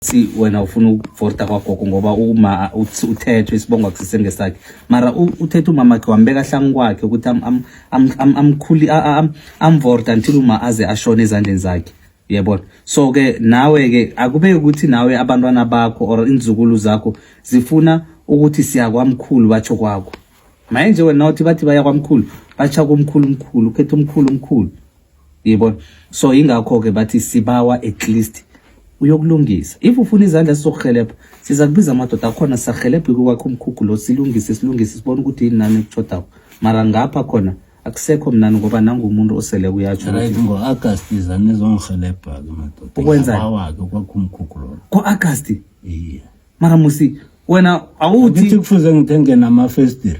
si wena ufuna ukuvota kwagogo ngoba uma uthethwe isibongo akusise ngesakhe mara uthethe umama wakhe wambeka hlangu kwakhe ukuthi amkhuli amvorta until uma aze ashone ezandleni zakhe yebona so ke nawe ke akube ukuthi nawe abantwana bakho or inzukulu zakho zifuna ukuthi siya kwamkhulu batsho kwakho maye nje wena uthi bathi baya kwamkhulu batsha kumkhulu mkhulu ukhetha umkhulu mkhulu yibona so ingakho ke bathi sibawa at least uyokulungisa if ufuna izandla sizokuhelebha siza kubiza amadoda akhona sisahelebhe kwakhe umkhukhu lo silungise silungise sibone ukuthi yini nani ekutshodako mara ngapha khona akusekho mnani ngoba nangumuntu osele kuyatsho right ngo-agast iza nizongihelebha-ke madoda ukwenzawake kwakho umkhukhu lo ngo-agast iye mara musi wena awuthi kufuze ngithenge namafestiri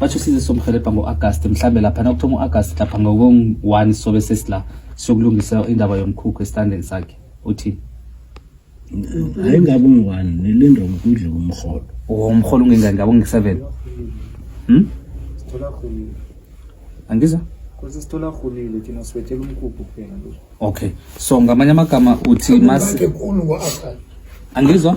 wathi usize somhelebha ngo-agast mhlawumbe lapha nakuthoma u-agast lapha ngokong-one sobe sesila siyokulungisa indaba yomkhukhu esitandeni sakhe uthini hayi ngabe ungu-one nilindwa ngokudla komrholo womrholo ungengani ngabe ungu-seven hmm? angizwa Kose sithola rhulile thina siwethela umkhukhu kuphela nje. Okay. So ngamanye amagama uthi mas angizwa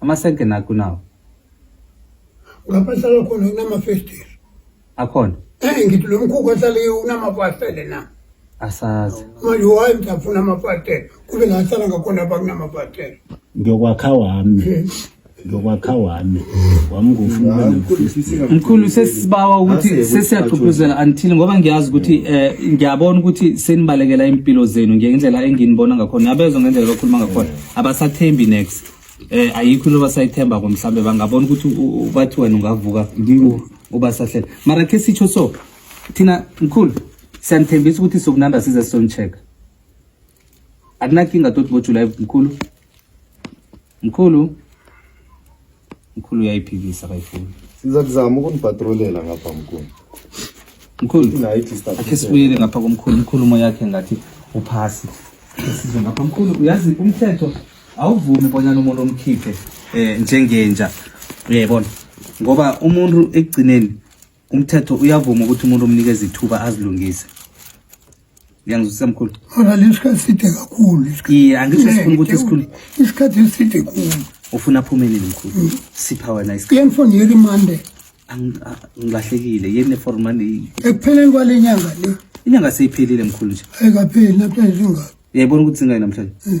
Amasenke nakho nawo. Lapha hlala khona kunamafestile. Akhona. Eh ngithi lo mkhukhu ohlale unamafastele na. Asazi. Manje wayi mtafuna amafastele. Kube la hlala ngakhona bakunamafastele. Ngiyokwakha wami. Eh. Ngiyokwakha wami. Wami ngufuna Mkhulu sesibawa ukuthi sesiyaxuphuzela until ngoba ngiyazi ukuthi eh ngiyabona ukuthi senibalekela impilo zenu ngendlela enginibona ngakhona. Yabezwa ngendlela lokhuluma ngakhona. abasathembi next eh ayikho loba sayithemba ko mhlambe bangabona ukuthi bathi wena ungavuka uba sahlela mara ke sitsho so thina mkhulu siyanithembisa ukuthi sokunanda size sisoncheck akunakinga toti bo July mkhulu mkhulu mkhulu uyayiphikisa kayifuni siza kuzama ukunibhatrolela ngapha mkhulu mkhulu akhe sibuyele ngapha komkhulu inkulumo yakhe ngathi uphasi size ngapha mkhulu uyazi umthetho awuvumi bonyana umuntu omkhiphe um njengenja uyayibona ngoba umuntu ekugcineni umthetho uyavuma ukuthi umuntu omnikeza ithuba azilungise ngiyangizwisa mkhulu alala isikhathi side kakhulu iye angisho sifuna ukuthi sikhulu isikhathi eside khulu ufuna aphume nini mkhulu mm. sipha wena isikhathi yengifoni yeli mande ngilahlekile yeni nefor mande ekupheleni kwale nyanga le inyanga seyiphelile mkhulu nje ayikapheli namhlanje zingaki yayibona ukuthi zingaki namhlanje mm.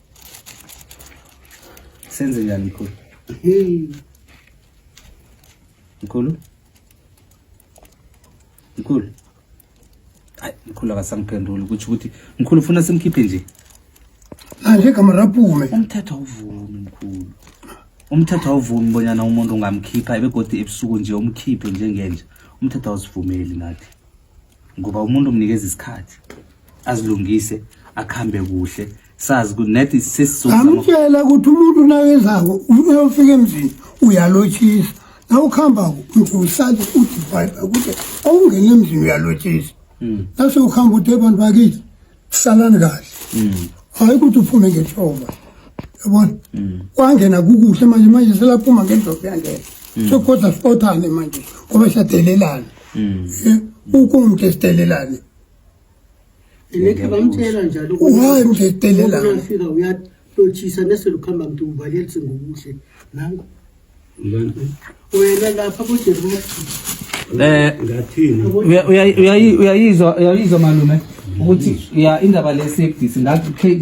senze njani mkhulu mkhulu mkhulu hayi mkhulu akasangiphenduli ukuthi ukuthi mkhulu ufuna simkhiphe nje manje igama raphume umthetho awuvumi mkhulu umthetho awuvumi bonyana umuntu ungamkhipha ebegodi ebusuku nje umkhiphe njengenje umthetho awusivumeli nathi ngoba umuntu umnikeza isikhathi azilungise akhambe kuhle sazi ukuthi nathi sesizoamtshela ukuthi umuntu nakezako uyofika emzini uyalotshisa nawukuhamba usale uthi bhayibha ukuthi awungeni emzini uyalotshisa hmm. nase ukuhamba uthi abantu bakithi salani kahle mm. hayi ukuthi uphume ngenhlova yabona mm. wangena kukuhle manje manje selaphuma ngendlovu yangena mm. sokoza sifothane manje ngoba siyadelelana eh, ukumntu esidelelane nekhe bamtshela njalo hayi mntu esidelelane uyafika uyahlotshisa neselukhamba mntu uvalelise ngokuhle nango wena lapha kude eh ngathini uyayizwa uyayizwa malume ukuthi ya indaba le safety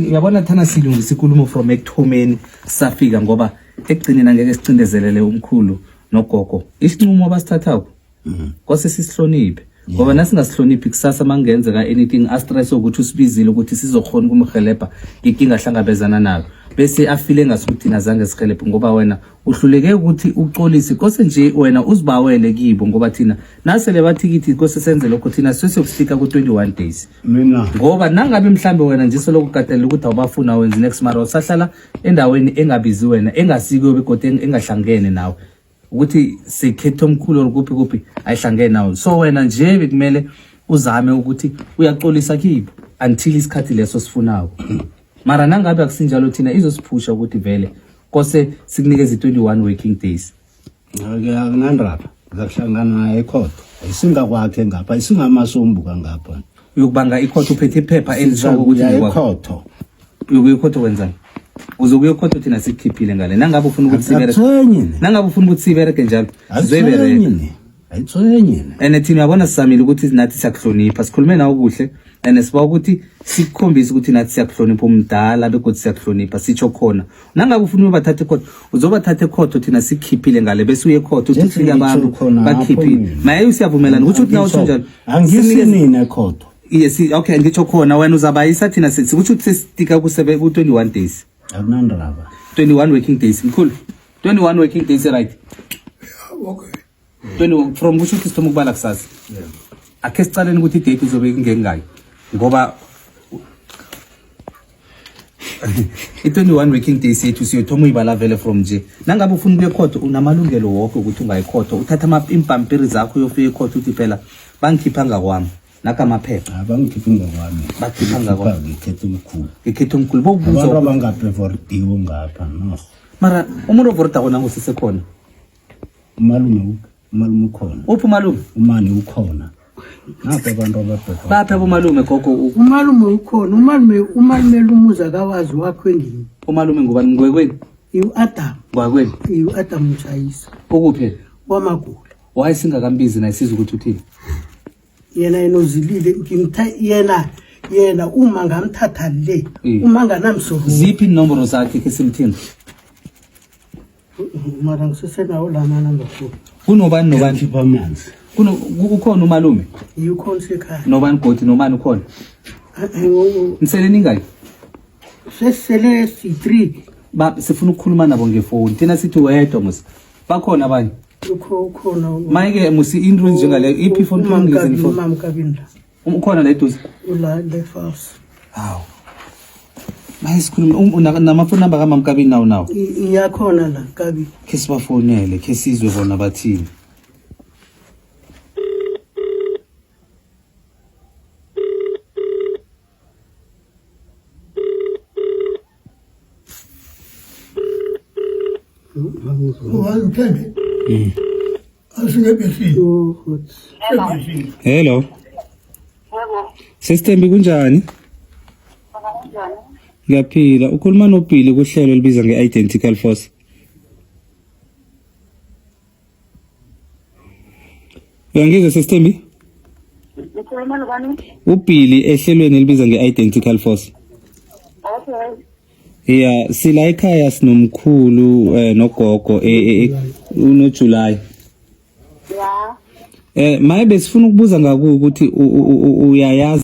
uyabona thana silungisa ikulumo from ekuthomeni safika ngoba ekugcineni angeke sicindezelele umkhulu nogogo isinqumo abasithathako mm. kose sisihloniphe ngoba yeah. nasingasihloniphi kusasa mangenzeka anything astress ukuthi usibizile ukuthi sizokhona ukumhelebha nginkinga hlangabezana nayo bese afile ngasuthi thina zange sihelebhe ngoba wena uhluleke ukuthi uxolise kose nje wena uzibawele kibo ngoba thina nasele bathi kithi kose senze lokho thina sesiyokufika ku-21 days mina ngoba nangabe mhlambe wena nje soloko ukatelela ukuthi awubafuna wenze next mara usahlala endaweni engabizi wena engasiko begodwa engahlangene nawe ukuthi sikhethe omkhulu or kuphi kuphi ayihlangene nawo so wena nje bekumele uzame ukuthi uyaxolisa kibo until isikhathi leso sifunako mara nangabe akusinjalo thina izosiphusha ukuthi vele kose sikunikeze 21 working days ngeke akunandaba ngakuhlangana ekhotho ayisingakwakhe ngapha ayisingamasombuka ngapha uyokubanga ikhotho uphethe iphepha elisho ukuthi ekhotho uyokuya ekhotho wenzani uzokuya ekhotho thina sikukhiphile ngale nangabe ufuna ukuthi sibere nangabe ufuna ukuthi sibereke njalo sizoyibereke ayithwenye and thina uyabona sisamile ukuthi nathi siyakuhlonipha sikhulume nawe kuhle and siba ukuthi sikukhombise ukuthi nathi siyakuhlonipha umdala begodwa siyakuhlonipha sitsho khona nangabe ufuna uyobathatha ekhotho uzobathatha ekhotho thina sikukhiphile ngale bese uye ekhotho uthi ufike abantu bakukhiphile maye usiyavumelana ukuthi uthi nawe usho njalo angisinini ekhotho Yes, okay ngitsho khona wena uzabayisa thina sithi ukuthi sesitika ku 21 days. Akunandaba. 21 working days mkhulu. 21 working days right. Okay. 21 from kusho ukuthi sithoma ukubala kusasa. Yeah. Akhe sicaleni ukuthi date izobe ingengayo ngoba i-21 working days yethu siyothoma uyibala vele from nje nangabe ufuna ubuye ekhotho unamalungelo wonke ukuthi ungayikhotho uthatha impampiri zakho uyofika ekhotho uthi phela bangikhipha ngakwami Naka maphepha. Abangikhiphi ngokwami. Bakhipha ngakwa. Ngikhetha umkhulu. Ngikhetha umkhulu. Bawubuza. Abantu abangaprevordiwe ngapha no. Mara umuntu ovorda kona ngusise khona. Umalume uphi? Umalume ukhona. Uphi umalume? Umani ukhona. Ngapha abantu ababheka. Baphi abomalume gogo? Umalume ukhona. Umalume umalume lumuza kawazi wakho endini. Umalume ngubani ngwekwenu? Iu Adam. Ngwakwenu. Iu Adam Mchayisa. Ukuphi? Wamagula. why singakambizi naye siza ukuthi uthini yena yena uzilile ngimthe yena yena uma ngamthatha le Eh. uma nganamsoro ziphi inomboro zakhe ke simthini mara ngisesenawo la manamba futhi kunobani nobani khipha amanzi Kuno- ku- ukhona umalume yikhona sekhaya nobani godi nomani ukhona nisele ningaki sesele si-three Ba- sifuna ukukhuluma nabo ngefoni thina sithi wedwa mos bakhona abanye mayike musi into njengale iphi foni phambili foni ukhona la eduze hawu maye sikhulume um, namafoni namba kamamkabini nawo nawo iyakhona la kabi khe sibafonele khe sizwe bona bathini Hello. Sesithembi kunjani? Ngiyaphila. Ukhuluma noBhili kuhlelo elibiza nge-Identical Force. Uyangizwa sesithembi? Ukhuluma nobani? UBilly ehlelweni elibiza nge-Identical Force. Okay. Yeah, sila ekhaya sinomkhulu eh nogogo eh, eh, eh uno July. Yeah. Eh maye besifuna ukubuza ngaku ukuthi uyayazi